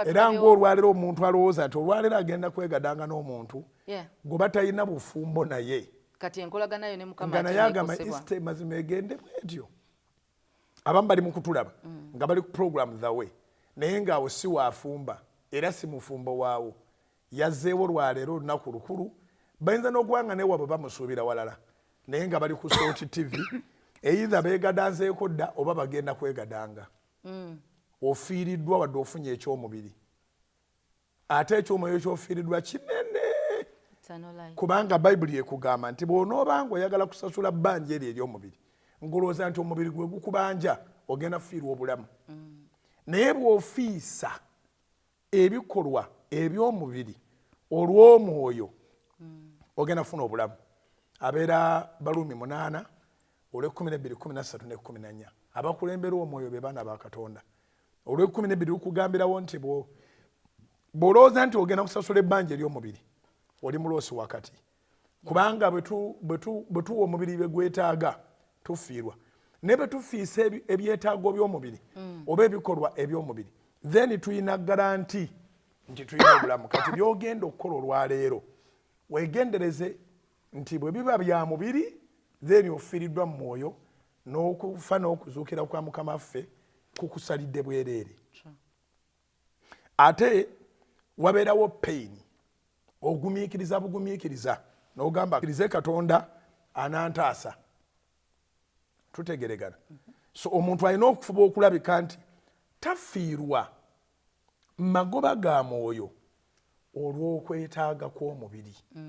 era ng'olwaliro omuntu alowooza nti olwaliro agenda kwegadanga n'omuntu gwe batalina bufumbo naye kati enkolagana yo ne mukama naye agamba east mazima egende bwetyo abamu bali mu kutulaba mm. nga bali ku program the way naye ng'awo si waafumba era si mufumbo waawo yazzeewo lwaleero olunaku lukulu bayinza n'okuba nga newabwe bamusuubira walala naye nga bali ku sooti tv eitha beegadanzeeko dda oba bagenda kwegadanga mm. ofiiriddwa wadde ofunye ekyomubiri ate ekyomwoyo kyofiiriddwa kinene kubanga bayibuli ekugamba nti bwonoobanga oyagala kusasula bbanja eryo eryomubiri ngolowooza nti omubiri gwe gukubanja ogenda kufiirwa obulamu mm. naye bwofiisa ebikolwa ebyomubiri olwomwoyo ogenda funa obulamu abeera baluumi munaana olwekumi nebiri kumi nasatu nekumi nanya abakulembera omwoyo be baana ba katonda olwekumi nebiri lukugambirawo nti bwolowooza nti ogenda kusasula ebbanja eryomubiri oli muloosi wakati kubanga bwe tuwa omubiri bye gwetaaga tufiirwa naye bwe tufiisa ebyetaago by'omubiri mm. oba ebikolwa eby'omubiri then tulina garanti nti tulina obulamu kati byogenda okukola olwaleero wegendereze nti bwe biba bya mubiri then ofiiriddwa mu mwoyo n'okufa n'okuzuukira kwa mukama ffe kukusalidde bwereere ate wabeerawo pain ogumiikiriza bugumiikiriza nogamba kirize katonda anantaasa tutegeregana so omuntu alina okufuba okulabika nti tafiirwa magoba ga mwoyo olw'okwetaaga kw'omubiri mm.